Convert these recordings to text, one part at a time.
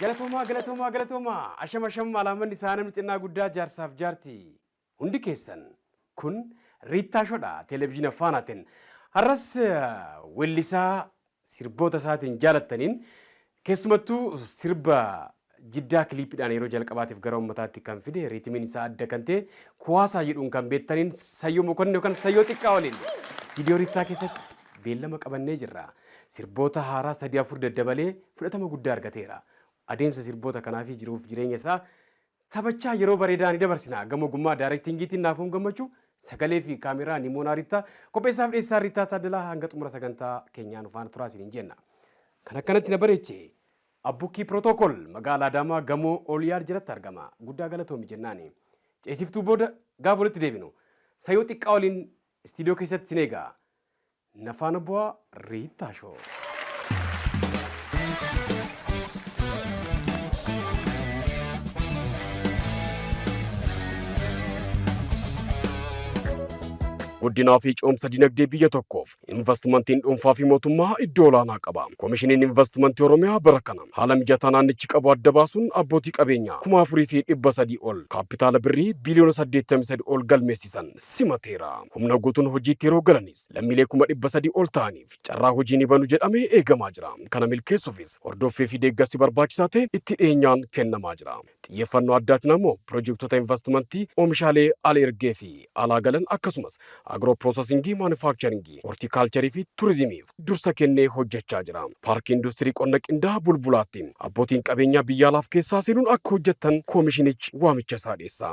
Galatoomaa galatoomaa galatoomaa asham asham alaamanni isaa namni xinnaa guddaa jaarsaaf jaarti hundi keessan kun riittaa shodha televizhiina faanaatiin har'as wellisaa sirboota isaatiin jaalattaniin keessumattuu sirba jiddaa kiliipidhaan yeroo jalqabaatiif gara ummataatti kan fide riitimiin isaa adda kan ta'e kuwaasaa jedhuun kan beektaniin sayyoo mokonne yookaan sayyoo xiqqaa waliin viidiyoo riittaa keessatti beellama qabannee jirra. Sirboota haaraa sadii afur daddabalee fudhatama guddaa argateera. Adeemsa sirboota kanaafi jiruuf jireenya isaa taphachaa yeroo bareedaa ni dabarsina. Gama ogummaa daarektiingiitiin Naafoom Gammachuu, sagaleefi kaameraa Nimoonaa Rittaa, qopheessaaf dhiyeessaan Rittaa Taaddalaa hanga xumura sagantaa keenyaa nu faana turaa isiniin jenna. Kan akkanatti na bareeche Abbukkii Protocol magaala Adaamaa gamoo Oolyaad jalatti argama. Guddaa galatoomi jennaani. Ceesiftuu booda gaafa walitti deebinu Sayoo Xiqqaa waliin istiidiyoo keessatti isin eega. Na faana bu'aa Riittaa Shoo. Guddinaa fi cimsa dinagdee biyya tokkoof invastimantiin dhuunfaa fi mootummaa iddoo olaanaa qaba. Komishiniin Invastimantii Oromiyaa bara kana haala mijataa naannichi qabu adda baasuun abbootii qabeenyaa kuma afurii fi dhibba sadii ol kaappitaala birrii biiliyoona saddeettamii sadi ol galmeessisan simateera. Humna guutuun hojiitti yeroo galanis lammiilee kuma 300 ol ta'aniif carraa hojii ni banu jedhamee eegamaa jira. Kana milkeessuufis hordoffii fi deeggarsi barbaachisaa ta'e itti dhiyeenyaan kennamaa jira. Xiyyeeffannoo addaatiin ammoo pirojektota invastimantii oomishaalee al-ergee fi alaa galan akkasumas agiroo piroosasingii, maanufaakicharingii, hortiikaalcharii fi turizimiif dursa kennee hojjechaa jira. Paarkii Industirii Qonna Qindaa'a Bulbulaatti abbootiin qabeenyaa biyya alaaf keessaa seenuun akka hojjettan koomishinichi waamicha isaa dhiyeessa.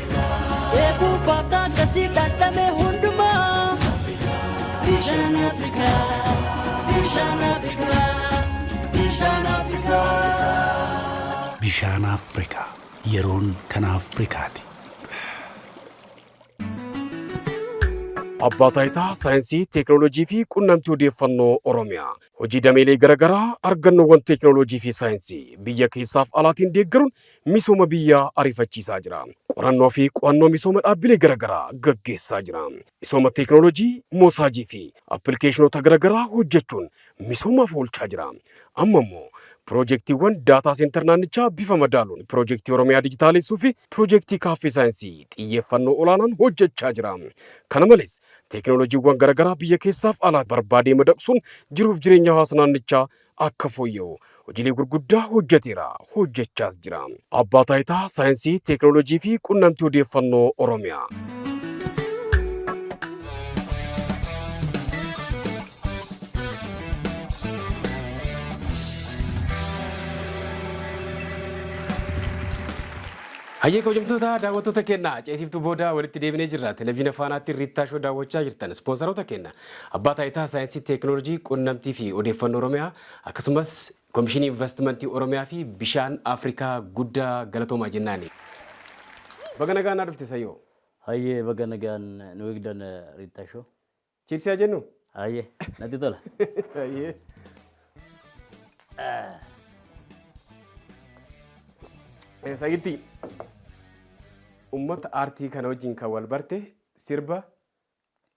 Eeguu baaftaa akkasii dhadhame hundumaa. Bishaan Afrikaa, bishaan Afrikaa, bishaan Afrikaa. Bishaan Afrikaa yeroon kan Afrikaati. Abbaa Taayitaa Saayinsii, Teeknooloojii fi Qunnamtii Odeeffannoo Oromiyaa. Hojii dameelee garaagaraa argannoowwan teeknooloojii fi saayinsii biyya keessaaf alaatiin deeggaruun misooma biyyaa ariifachiisaa jira. Qorannoo fi qo'annoo misooma dhaabbilee garagaraa gaggeessaa jira. Misooma teeknooloojii, moosaajii fi appilikeeshinoota garagaraa hojjechuun misoomaaf oolchaa jira. Amma immoo piroojektiiwwan daataa seentar naannichaa bifa madaaluun piroojektii Oromiyaa Dijitaaleessuu fi piroojektii Kaaffee Saayinsii xiyyeeffannoo olaanaan hojjechaa jira. Kana malees, teeknooloojiiwwan garagaraa biyya keessaaf alaa barbaadee madaqsuun jiruuf jireenya hawaasa naannichaa akka fooyya'u hojiilee gurguddaa hojjeteera, hojjechaas jira. Abbaa Taayitaa Saayinsii, Teeknooloojii fi Qunnamtii Odeeffannoo Oromiyaa. Hayyee kabajamtoota daawwattoota keenya ceesiftuu booda walitti deebinee jirra. Televiziina Faanaatti Riittaa Shoo daawwachaa jirtan. Ispoonsaroota keenya Abbaa Taayitaa Saayinsii Teeknooloojii Qunnamtii fi Odeeffannoo Oromiyaa akkasumas Komishinii Invastimantii Oromiyaa fi Bishaan Afrikaa guddaa galatoomaa jennaani. Baga nagaan naa dhufte Sayyoo. Hayyee baga nagaan nu eegdan Riittaa Show. Cheers haa jennu? Hayyee natti tola. Hayyee. Eh, Sayyittii, uummata aartii kana wajjin kan wal barte sirba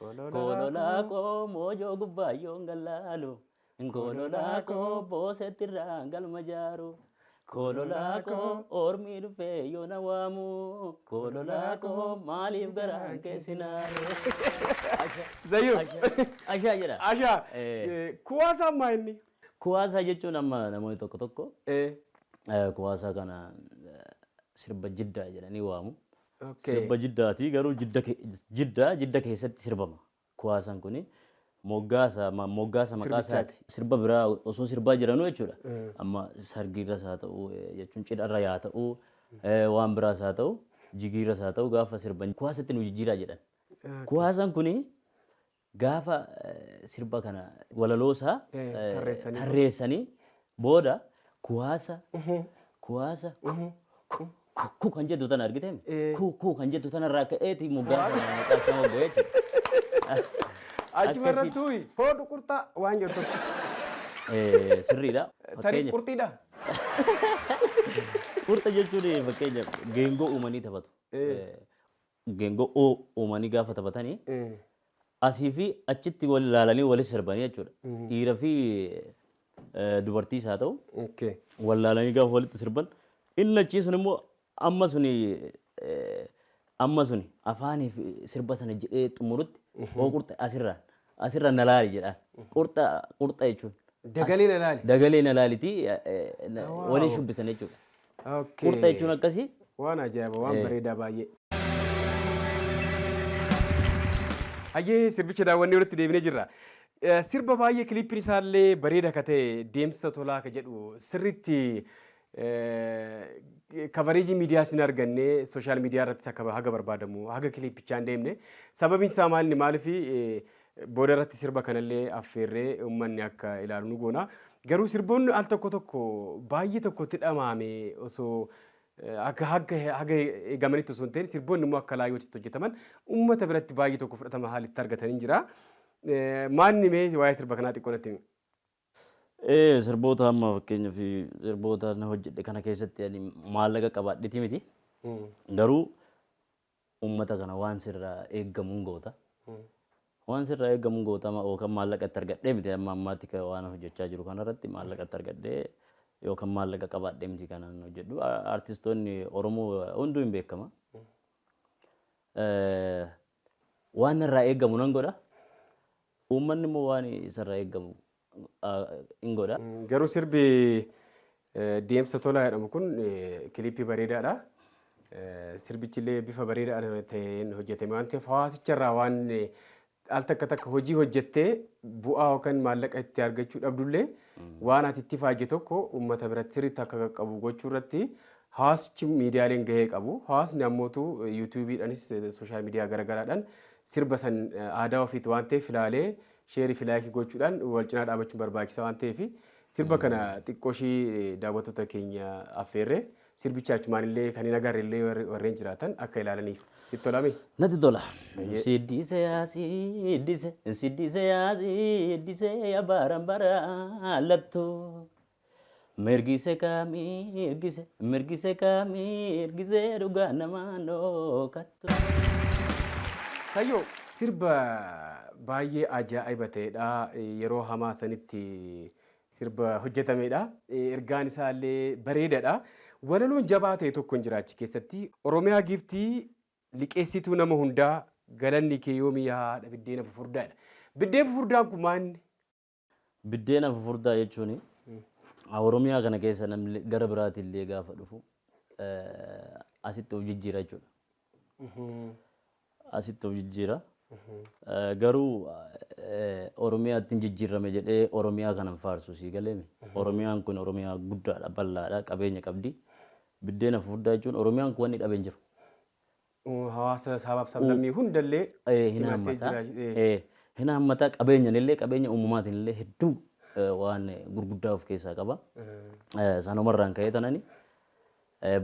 Gololaa koo moojoo gubbaa yoon gallaalu. Gololaa koo boosetti irraa galma jaaru. Gololaa koo ormii dhufee yoo na waamu. Gololaa koo maaliif garaan keessi naaru. Zayyuu. Ashaa jedha. Ashaa. Kuwaasaa ammaa inni. Kuwaasaa jechuun amma namoonni tokko tokko kuwaasaa kana sirba jiddaa jedhanii waamu. Sirba Jiddaati garuu Jidda Jidda keessatti sirbama kuwaasan kuni moggaasa moggaasa maqaa isaati sirba biraa osoo sirbaa jiranuu jechuudha amma sargiirras haa ta'u jechuun cidharra yaa ta'u waan biraas haa ta'u jigiirras haa ta'u gaafa sirban kuwaasatti nu jijjiiraa jedhan kuwaasan kuni Gaafa sirba kana walaloo isaa tarreessanii booda kuwaasa kuwaasa ku kan jettu tana argiteem ku ku kan jettu tana irraa ka'eeti moggaa sana maqaa isaa mogga'ee jechuudha. Achuma irratti tuyi hoo duqurxaa waan jettu. Sirriidha. Tarii qurxiidha. Qurxa jechuun fakkeenyaaf geengoo uumanii taphatu. Geengo'oo uumanii gaafa taphatani asii fi achitti wal ilaalanii wali sirbanii jechuudha. Dhiira fi dubartiis haa ta'u wal ilaalanii gaafa walitti sirban inni achii sun immoo amma suni amma suni afaanii fi sirba sana jedhee xumurutti hooqurxe asirraan Asirra na laali jedhaan. Qurxa qurxa jechuun. Dagalee na laali. Dagalee na laalitii eh, eh, na- Wow. waliin shubbisan jechuudha. Okay. Qurxa jechuun akkasii. Waan ajaa'iba, waan Eh. bareedaa baay'ee. Hayyee sirbicha daawwannee walitti deebinee jirra. Eh, Sirba baay'ee kiliippiin isaallee bareeda akka ta'e deemsa tolaa akka jedhu sirriitti Kavareejii miidiyaas hin arganne, sooshaal miidiyaa irrattis akka haga barbaadamu haga kiliippichaa hin deemne. Sababiin isaa maalni maalifi booda irratti sirba kanallee affeerree uummanni akka ilaalu nu goona. Garuu sirboonni al tokko tokko baay'ee tokkotti dhamaame osoo akka haga haga eegamanitti osoo hin ta'in sirboonni immoo akka laayyootti hojjetaman uummata biratti baay'ee tokko fudhatama haalitti argatanii jira. Maanni mee waa'ee sirba kanaa xiqqoo natti himi. Sirboota amma fakkeenyaaf sirboota na hojjedhe kana keessatti ani maallaqa qabaadhiti miti. Garuu uummata kana waan sirraa eegamuun goota. Waan sirraa eegamuun goota amma yookaan maallaqa itti argadhee miti amma ammaatti kan waan hojjechaa jiru kanarratti maallaqa itti argadhee yookaan maallaqa qabaadhee miti kanan hojjedhu. Artistoonni Oromoo hunduu hin beekama. Waan narraa eegamu nan godha. Uummanni immoo waan isarraa eegamu in godha. Garuu sirbi Deemsa Tolaa jedhamu kun kiliippii bareedaadha. Sirbichillee bifa bareedaadhaan ta'een hojjetame waan ta'eef hawaasicharraa waan al takka takka hojii hojjettee bu'aa yookaan maallaqa itti argachuu dhabdullee waan ati itti faayde tokko uummata biratti sirriitti akka qaqqabu gochuu irratti Hawaasichi miidiyaaleen gahee qabu. Hawaasni ammootu yuutuubiidhanis sooshaal miidiyaa garagaraadhaan sirba san aadaa ofiiti waan ta'eef ilaalee sheerii fi laayikii gochuudhaan wal cinaa dhaabachuun barbaachisa waan ta'eef sirba kana xiqqooshii daawwattoota keenya affeerre sirbicha achumaan illee kan hin agarre illee warreen jiraatan akka ilaalaniif sitti tolame. Natti tola. Siddise yaa siddise siddise yaa siddise yaa baran bara lattu. Mirgise kaa mirgise mirgise kaa mirgise dhugaa namaa noo kattu. Sayyo sirba baay'ee ajaa'iba ta'edha. Yeroo hamaa sanitti sirba hojjetamedha. Ergaan isaa illee bareedadha. Walaloon jabaa ta'e tokko hin jira achi keessatti. Oromiyaa giiftii liqeessituu nama hundaa galanni kee yoomi yaa haadha biddeena fufurdaa jedha. Biddeen fufurdaan kun maanni? Biddeena fufurdaa jechuun Oromiyaa kana keessa namni gara biraati illee gaafa dhufu asitti of jijjiira jechuudha. Asitti of jijjiira. Garuu Oromiyaatti hin jijjiirame jedhee Oromiyaa kana hin faarsu sii galeemi. Oromiyaan kun Oromiyaa guddaadha, bal'aadha, qabeenya qabdi. Biddeena fufurdaa jechuun Oromiyaan kun wanni dhabe hin jiru. Hawaasa sabaaf sablammii hundallee simattee jira. Hin haammata qabeenyanillee qabeenya uumamaatinillee hedduu waan gurguddaa of keessaa qaba. Sanumarraan ka'ee tanani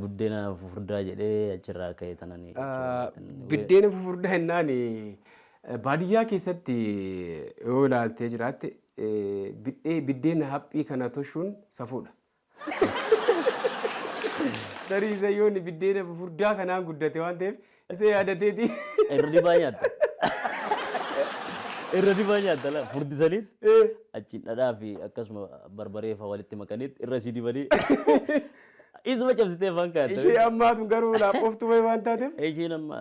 buddeena fufurdaa jedhee achirraa ka'ee tanani. Buddeena fufurdaa jennaan baadiyyaa keessatti yoo ilaaltee jiraatte biddeena haphii kana toshuun safuudha. Tarii Isayyoon biddeena fufurdaa kanaan guddate waan ta'eef isa yaadateeti. Irra dibaa nyaatta. Irra dibaa nyaatta laa furdisanii achiin dhadhaa fi akkasuma barbaree fa'aa walitti makanii irra sii dibanii isuma cabsitee afaan kaatta. Ishee ammaatu garuu laafoftuu wayii waan taateef. Isheen amma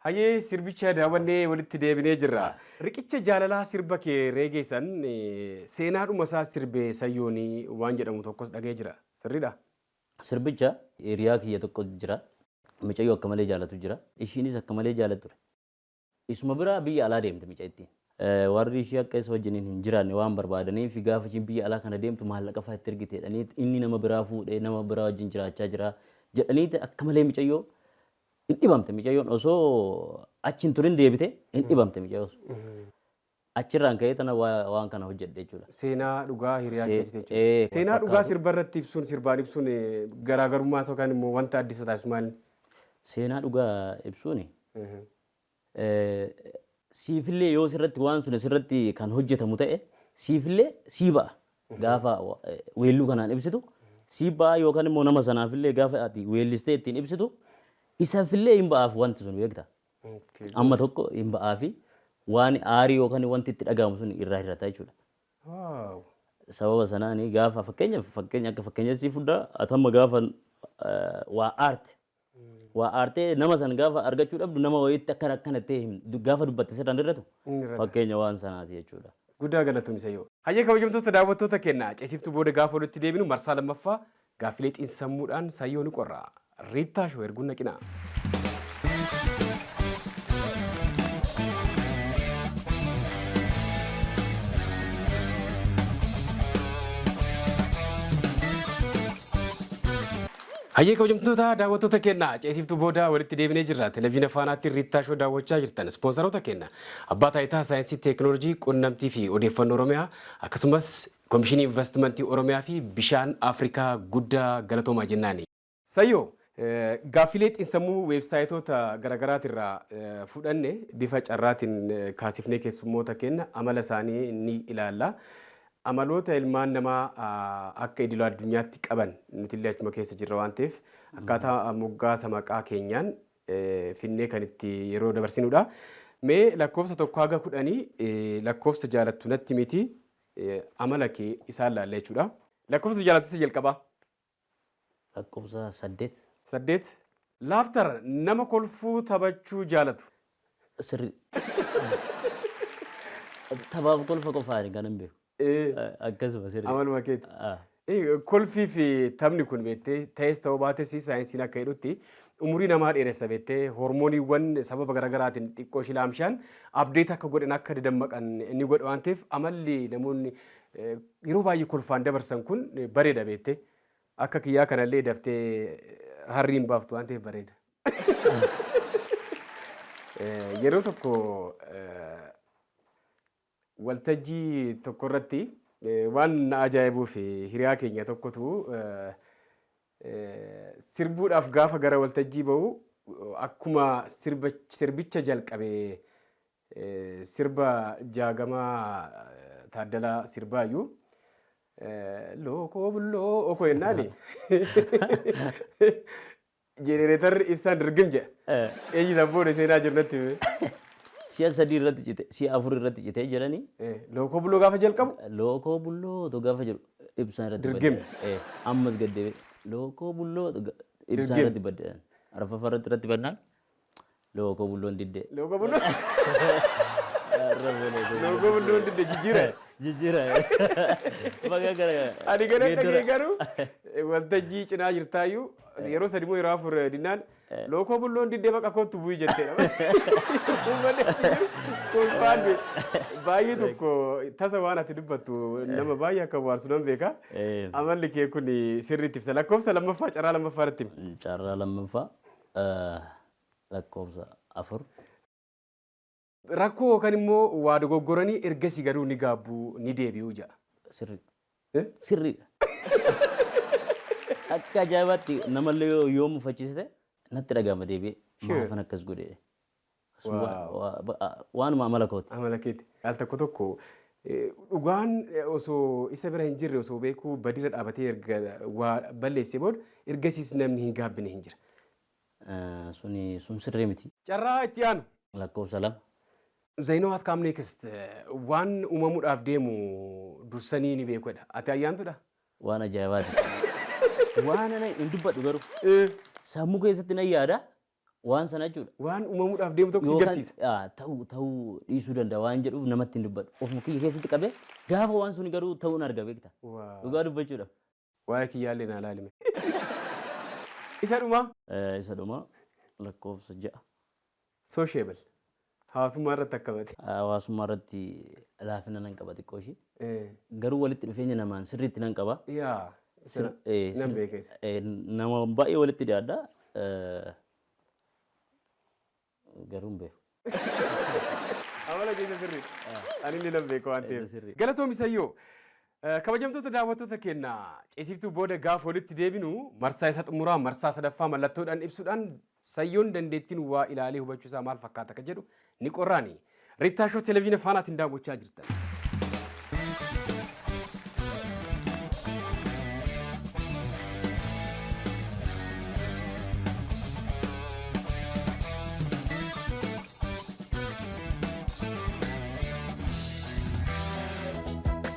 Hayyee sirbicha daawwannee walitti deebinee jirra. Riqicha jaalalaa sirba kee Reegee san seenaadhuma isaa sirbe Sayyoon waan jedhamu tokkos dhaga'ee jira. Sirriidha? Sirbicha hiriyaa kiyya tokko jira. Micayyoo akka malee jaalatu jira. Ishiinis akka malee jaalatti ture. Isuma bira biyya alaa deemte micayittiin. Warri ishii akka isa wajjiniin hin jiraanne waan barbaadaniif gaafa ishiin biyya alaa kana deemtu maallaqa faa itti ergite jedhaniit inni nama biraa fuudhee nama biraa wajjin jiraachaa jira jedhaniit akka malee micayyoo Hin dhibamte micayyoon osoo achi hin turin deebite hin dhibamte micayyoon sun. Achirraan ka'ee tana waa- waan kana hojjedhe jechuudha. Seenaa dhugaa hiriyaa See- keetii ee, jechuudha. wal Seenaa dhugaa fakkaatu. sirba irratti ibsuun sirbaan ibsuun eh, garaagarummaa isaa yookaan immoo wanta addisa taasisu maali? Seenaa dhugaa ibsuun siifillee yoo sirratti waan suni sirratti kan hojjetamu ta'e siifillee sii ba'a. Gaafa weelluu kanaan ibsitu sii ba'a yookaan immoo nama sanaafillee gaafa ati weellistee ittiin ibsitu isafillee hin ba'aaf wanti sun beekta. Amma tokko hin ba'aafi waan aarii yookaan wanti itti dhaga'amu sun irraa hir'ata jechuudha. Sababa sanaan gaafa fakkeenyaaf fakkeenya akka fakkeenyatti sii fuddaa atamma gaafa waa aarte Waa aartee nama san gaafa argachuu dhabdu nama wayiitti akka akkana jettee himtu gaafa dubbatte sirra hin irratu Inni irra ta'a. fakkeenya waan sanaati jechuudha. Guddaa galatoomi Sayyoo. Hayyee kabajamtoota daawwattoota keenya Ceesiftuu booda gaafa walitti deebinu marsaa lammaffaa gaaffilee xiinsammuudhaan Sayyoo ni qorra. Riittaa Show erguun naqinaa. Hayyee kabajamtoota daawwattoota keenya ceesiiftuu booda walitti deebinee jirra. Televiina Faanaatti Riittaa Shoo daawwachaa jirtan. Ispoonsaroota keenya Abbaa Taayitaa Saayinsii Teeknooloojii Qunnamtii fi Odeeffannoo Oromiyaa akkasumas Komishinii Invastimantii Oromiyaa fi Bishaan Afrikaa guddaa galatoomaa jennaani. Sayyoo, Gaaffilee xinsammuu weebsaayitoota garagaraati irraa fudhanne bifa carraatiin kaasifnee keessummoota keenya amala isaanii ni ilaalla. Amaloota ilmaan namaa akka idila addunyaatti qaban nutillee achuma keessa jirra waan ta'eef akkaataa moggaasa maqaa keenyaan finnee kan itti yeroo dabarsinudha. Mee lakkoofsa tokko haga kudhanii lakkoofsa jaalattu natti miti amala kee isaan laalla jechuudha. Lakkoofsa jaalattu isa jalqabaa. Lakkoofsa saddeet. saddeet. Laughter, Nama kolfuu taphachuu jaalatu. Sirrii. Taphaaf kolfa qofaani kanan beeku. Akkasuma sirrii. Amaluma keeti. Kolfii fi taphni kun beektee ta'es ta'uu baates saayinsiin akka jedhutti umurii namaa dheeressa beektee hormooniiwwan sababa garagaraatiin xiqqoo ishii laamshaan update akka godhan akka dadammaqan ni godha waan ta'eef amalli namoonni Yeroo baay'ee kolfaan dabarsan kun bareeda beekte. Akka kiyyaa kanallee daftee harrii hin baaftu waan ta'eef bareeda. Yeroo tokko waltajjii tokko irratti waan na ajaa'ibuu fi hiriyaa keenya tokkotu sirbuudhaaf gaafa gara waltajjii ba'u akkuma sirbicha jalqabe Sirba Jaagamaa Taaddalaa sirbaayyu. Lookoo bulloo koo jennaani. Jenereetarri ibsaan dirgim jedha. Eenyu isaan booda seenaa jiru natti hime. Si'a sadii irratti cite, si'a afur irratti cite jedhani. Lookoo bulloo gaafa jalqabu. Lookoo bulloo otoo gaafa jedhu ibsaan irratti Dirgim. badde. Ammas gad deebi'e. Lookoo bulloo otoo ga- ibsaan Dirgim. irratti badde. Arfaffaa irratti irratti bannaan Loogoo bulloon didde. Loogoo bulloon. Loogoo bulloon didde jijjiira. Jijjiira. Baga gara. Ani gara dhagee garuu waltajjii cinaa jirtaayyuu yeroo sadi moo yeroo afur dinnaan lookoo bulloon diddee baqa kootu bu'ii jettee kolfaan baay'ee tokko tasa waan ati dubbattu nama baay'ee akka waarsu nan beeka. Amalli kee kun sirriitti ibsa lakkoofsa lammaffaa carraa lammaffaa irratti. Carraa lammaffaa. lakkoofsa 4. Rakkoo yookan immoo waa dogoggoranii ergasii garuu ni gaabbu, ni deebi'u jedha. Sirri. Eh? Sirriidha. Akka ajaa'ibaatti namallee yoo yoo mufachiisite natti dhaga'ama deebi'ee. Sure. Maafan akkas godhe. Sun Wow. waa- waa- ba- a- Waanuma amala kooti. Amala keeti. Al tokko tokko eh, dhugaan eh, osoo isa bira hin jirre osoo beekuu badirra dhaabatee erga waa balleessee booda ergasiis namni hin gaabbine hin jira. Suni sun sirrii miti. Carraa itti aanu. Lakkoofsa 2. They know what come next. Waan uumamudhaaf deemu dursanii ni beeku jedha. Ati Ayyaantudha? Waan ajaa'ibaati kun. Waan ana hin dubbadhu garuu. Sammuu keessatti nan yaada waan sana jechuudha. Waan uumamudhaaf deemu tokko si Yookaan garsiisa. ah, ta'uu ta'uu dhiisuu danda'a waan jedhuuf namatti hin dubbadhu. Ofuma kiyya keessatti qabee gaafa waan suni garuu ta'uun arga beekta. Waa. Dhugaa dubbachuudhaaf. Waa'ee kiyyaallee naa laali mee. Isa dhumaa? Ee isa dhumaa lakkoofsa ja'a. Sociable. Hawaasummaa irratti akkamati? Hawaasummaa irratti laafina nan qaba xiqqoo ishii. Ee. Garuu walitti dhufeenya namaan sirriitti nan qaba. Yaa. Sir, Sana ee, nan sir, beeka isa. ee, nama baay'ee walitti dhiyaadha. Ee, Garuu hin beeku. Amala keessa sirriidha. Anillee nan beeka waan ta'eef. Sirrii. Galatoomi Sayyoo. Eh, Kabajamtoota daawwattoota keenya ceesiftuu booda gaafa walitti deebinu marsaa isa xumuraa marsaa sadaffaa mallattoodhaan ibsuudhaan Sayyoon dandeettiin waa ilaalee hubachuu isaa maal fakkaata akka jedhu ni qorraanii. Rittaa Show Televiziina Faanaatiin daawwachaa jirtan.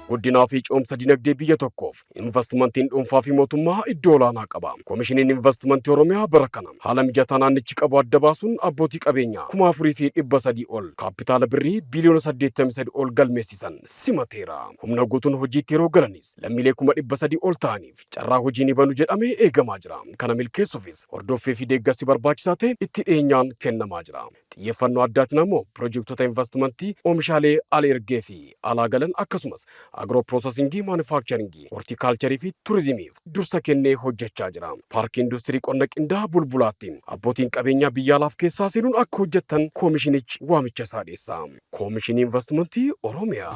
Guddinaa fi cimsa dinagdee biyya tokkoof Invastimantiin dhuunfaa fi mootummaa iddoo olaanaa qaba. Komishiniin Invastimantii Oromiyaa bara kana haala mijataa naannichi qabu adda baasuun abbootii qabeenyaa 4,300 ol kaappitaala Birrii biiliyoona 83 ol galmeessisan simateera. Humna guutuun hojiitti yeroo galanis lammiilee kuma 300 ol ta'aniif carraa hojii ni banu jedhamee eegamaa jira. Kana milkeessuufis hordoffii fi deeggarsi barbaachisaa ta'e itti dhiyeenyaan kennamaa jira. Xiyyeeffannoo addaatiin ammoo pirojektota invastimantii oomishaalee al-ergee fi alaa galan akkasumas agiroo piroosasingii, maanufakcharingii, hortiikaalcharii fi turizimiif dursa kennee hojjechaa jira. Paarkii Industirii Qonna Qindaaha Bulbulaatti abbootiin qabeenyaa biyya alaaf keessaa seenuun akka hojjettan koomishinichi waamicha isaa dhiyeessa. Koomishinii Invastimantii Oromiyaa.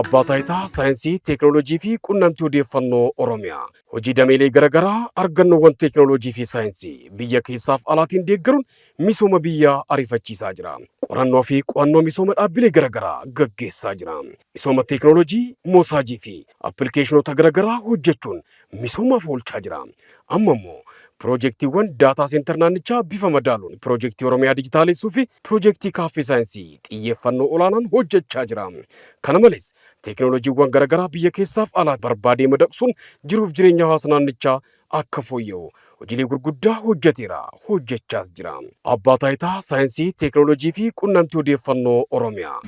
Abbaa Taayitaa Saayinsii, Teeknooloojii fi Qunnamtii Odeeffannoo Oromiyaa hojii dameelee garaagaraa argannoowwan teeknooloojii fi saayinsii biyya keessaaf alaatiin deeggaruun misooma biyyaa ariifachiisaa jira. Qorannoo fi qo'annoo misooma dhaabbilee garaagaraa gaggeessaa jira. Misooma teeknooloojii, moosaajii fi appilikeeshinoota garagaraa hojjechuun misoomaaf oolchaa jira. Amma immoo piroojektiiwwan daataa seentar naannichaa bifa madaaluun piroojektii Oromiyaa Dijitaalessuu fi piroojektii Kaaffee Saayinsii xiyyeeffannoo olaanaan hojjechaa jira. Kana malees, teeknooloojiiwwan garagaraa biyya keessaaf alaatti barbaadee madaqsuun jiruuf jireenya hawaasa naannichaa akka fooyya'u hojiilee gurguddaa hojjeteera, hojjechaas jira. Abbaa Taayitaa Saayinsii, Teeknooloojii fi Qunnamtii Odeeffannoo Oromiyaa.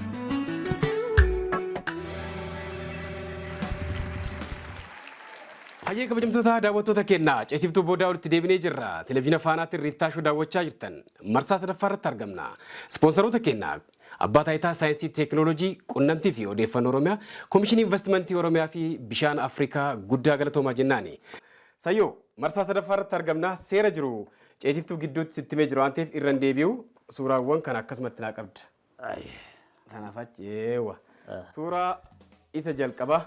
Hayyee kabajamtoota daawwattoota keenya ceesiftuu boodaa walitti deebinee jirra. Televezyiina Faanaatiin Riittaashuu daawwachaa jirtan marsaa sadaffaa irratti argamna. Ispoonsaroota keenya Abbaa Taayitaa Saayinsii Teeknooloojii, Qunnamtii fi Odeeffannoo Oromiyaa, Komishinii Invastimantii Oromiyaa fi Bishaan Afrikaa guddaa galatoomaa jennaani. Sayyoo, marsaa sadaffaa irratti argamna. Seera jiru ceesiftuu gidduutti sitti himee jira waan ta'eef irra hin deebi'u. Suuraawwan kana akkasumatti naa qabda. Aye. Kanaaf achi eewwa. Suuraa isa jalqabaa.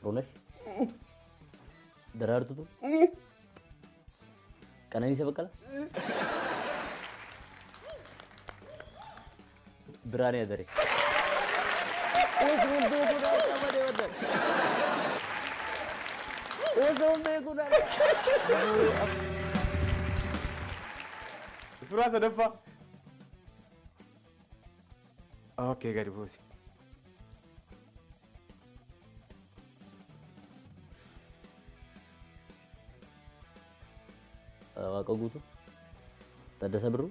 Xurunesh. Daraartutu. Qananiisa Baqqala. Biraanee Adaree. Usuun beekuun harkaa badee baddan. Usuun beekuun harkaa. Suuraa sadaffaa. Okay, gadi buusi. Waaqa guutuu. Taddasa Birruu.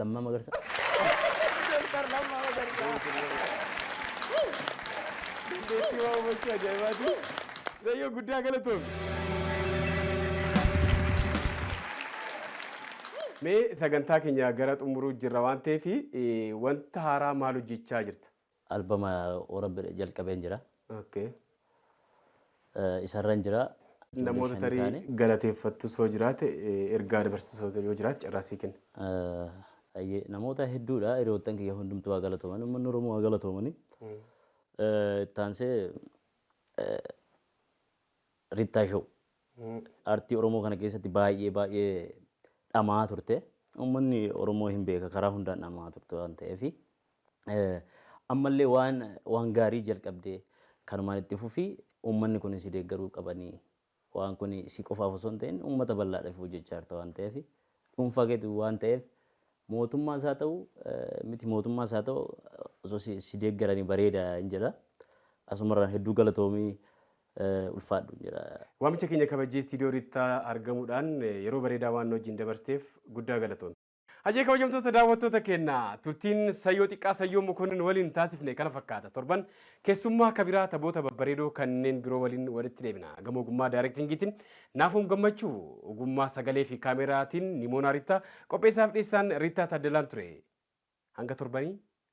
Lammaa Magarsaa. Doktar Lammaa Magarsaa. Dandeettii waan hubachuu ajaa'ibaati. Zayyoo guddaa galatoomi. Mee sagantaa keenya gara xumuruu jirra waan ta'eef wanta haaraa maal hojjechaa jirta? Albama warabbedha jalqabeen jira. Okay. Eh, Isarran jira. Ijoollee Namoota shanii tarii taane. galateeffattus yoo jiraate eh, ergaa dabarsisoota yoo jiraate carraa sii kenna. Eh, ayyee, Namoota hedduudha hiriyoottan kiyya hundumtuu haa galatooman uummanni Oromoo haa galatoomani. Eh, Itti aansee eh, Rittaa Show. Artii Oromoo kana keessatti baay'ee baay'ee dhama'aa turte. Uummanni Oromoo hin beeka karaa hundaan dhama'aa turte waan ta'eef Ammallee waan waan gaarii jalqabde kanumaan itti fufi uummanni kun si deeggaruu qabani waan kun si qofaaf osoo hin ta'in uummata bal'aadhaaf hojjechaa jirta waan ta'eef dhuunfaa keetu waan ta'eef mootummaas haa ta'u miti mootummaas haa ta'u osoo si, si deeggarani bareeda hin jedha asumarraan hedduu galatoomii ulfaadhu hin jedha. Waamicha keenya kabajjee Istiidiyoo Riittaa argamuudhaan yeroo bareedaa waan nu wajjin dabarsteef guddaa galatoomi. Hayyee kabajamtoota daawwattoota keenya turtiin sayyoo xiqqaa sayyoo mokonnin waliin taasifne kana fakkaata. Torban keessummaa kabiraa taboota babbareedoo kanneen biroo waliin walitti deebina. Gama ogummaa daayirektingiitiin naafuun gammachuu ogummaa sagalee fi kaameraatiin Nimoonaa Riittaa qopheessaaf dhiyeessaan Riittaa Taaddalaan ture. Hanga torbanii